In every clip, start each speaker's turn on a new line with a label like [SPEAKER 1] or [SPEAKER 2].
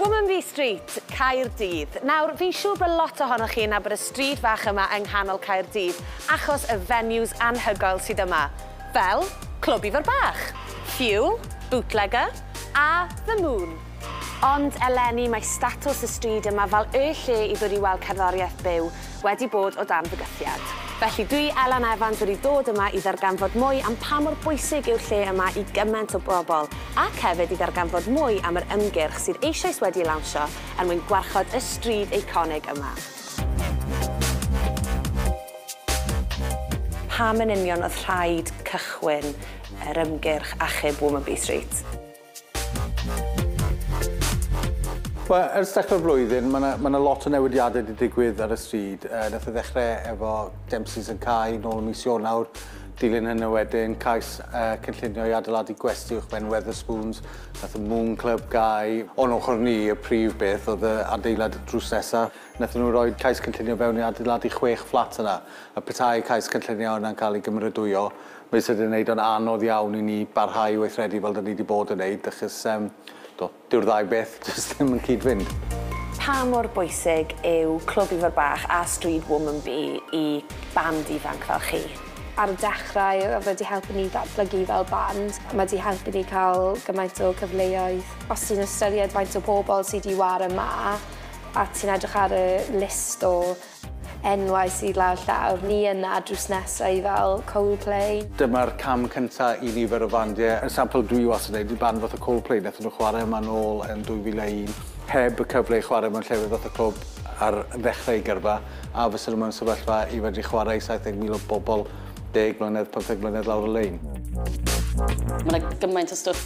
[SPEAKER 1] Womanby Street, Caerdydd. Nawr, fi'n siŵr bod lot ohonoch chi yn nabod y stryd fach yma yng nghanol Caerdydd achos y venues anhygoel sydd yma, fel Clwb Ifor Bach, Fuel, Bootlegger a The Moon. Ond eleni mae statws y stryd yma fel y lle i ddod i weld cerddoriaeth byw wedi bod o dan fygythiad. Felly dwi, Elan Evans, wedi dod yma i ddarganfod mwy am pa mor bwysig yw'r lle yma i gymaint o bobl ac hefyd i ddarganfod mwy am yr ymgyrch sydd eisoes wedi ei lawnsio er mwyn gwarchod y stryd eiconig yma. Pam yn union oedd rhaid cychwyn yr ymgyrch achub Womanby Street?
[SPEAKER 2] Wel, ers dechrau'r flwyddyn, mae 'na ma' 'na lot o newidiadau 'di digwydd ar y stryd. Yy nath e ddechre efo Dempsey's yn cau nôl ym mis Ionawr. Dilyn hynny wedyn, cais yy cynllunio i adeiladu gwesty uwchben Wetherspoons. Nath y Moon Club gau. O'n ochr ni, y prif beth oedd y adeilad drws nesa. Nathon nhw roi cais cynllunio fewn i adeiladu chwech fflat yna. A petai cais cynllunio yna'n ca'l ei gymeradwyo, Mae sydd yn wneud o'n anodd iawn i ni barhau i weithredu fel 'da ni 'di bod yn wneud achos yym do, dyw'r ddau beth jyst ddim yn cyd-fynd. Pa mor
[SPEAKER 1] bwysig yw Clwb Ifor Bach a Stryd Woman Bee i band ifanc fel chi? Ar y dechrau
[SPEAKER 3] oedd wedi helpu ni ddatblygu fel band. Mae 'di helpu ni cael gymaint o cyfleoedd. Os ti'n ystyried faint o bobl sy 'di ware 'ma a ti'n edrych ar y list o Enwau sydd lawr llawr ni yna drws nesa i fel Coldplay. Dyma'r cam
[SPEAKER 2] cynta i nifer o fandiau. Yn sampl dwi wastad yn neud yw band fatha Coldplay nethon nhw chwarae yma nôl yn 2001 heb y cyfle i chwarae mewn llefydd fatha clwb ar ddechrau eu gyrfa a fysa nhw mewn sefyllfa i fedru chwarae i 70,000 o bobl deg mlynedd, pymtheg mlynedd lawr y lein.
[SPEAKER 4] Ma' 'na gymaint o stwff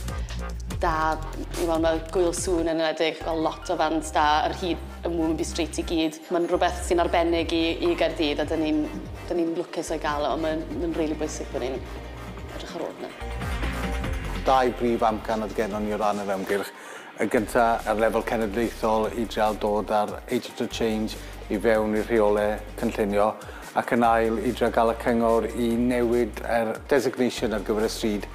[SPEAKER 4] da i weld ma' Gŵyl Sŵn yn enwedig fel lot o fans da ar hyd y Mwmbi Street i gyd. Mae'n rhywbeth sy'n arbennig i i Gaerdydd a 'dyn ni'n 'dyn ni'n lwcus o'i gael o a mae'n mae'n rili bwysig bod ni'n edrych ar ôl hwnna. Dau
[SPEAKER 2] brif amcan oedd gennon ni o ran yr ymgyrch. Y gynta ar lefel cenedlaethol i dreial dod â'r Agents of Change i fewn i'r rheole cynllunio ac yn ail i dreial gael y cyngor i newid yr designation ar gyfer y stryd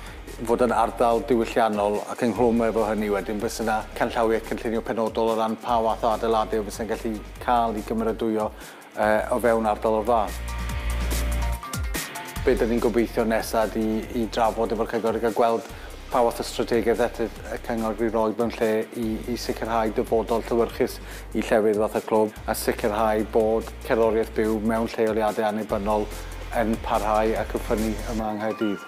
[SPEAKER 2] fod yn ardal diwylliannol ac ynghlwm efo hynny wedyn fysa 'na canllawiau cynllunio penodol o ran pa fath o adeiladu fysa'n gallu cael ei gymeradwyo yy o fewn ardal o'r fath. Be' 'dyn ni'n gobeithio nesa ydi i drafod efo'r cyngor a ga'l gweld pa fath o strategaeth y cyngor i roi mewn lle i i sicrhau dyfodol llewyrchus i llefydd fatha clwb a sicrhau bod cerddoriaeth byw mewn lleoliadau annibynnol yn parhau ac yn ffynnu yma yng Nghaerdydd.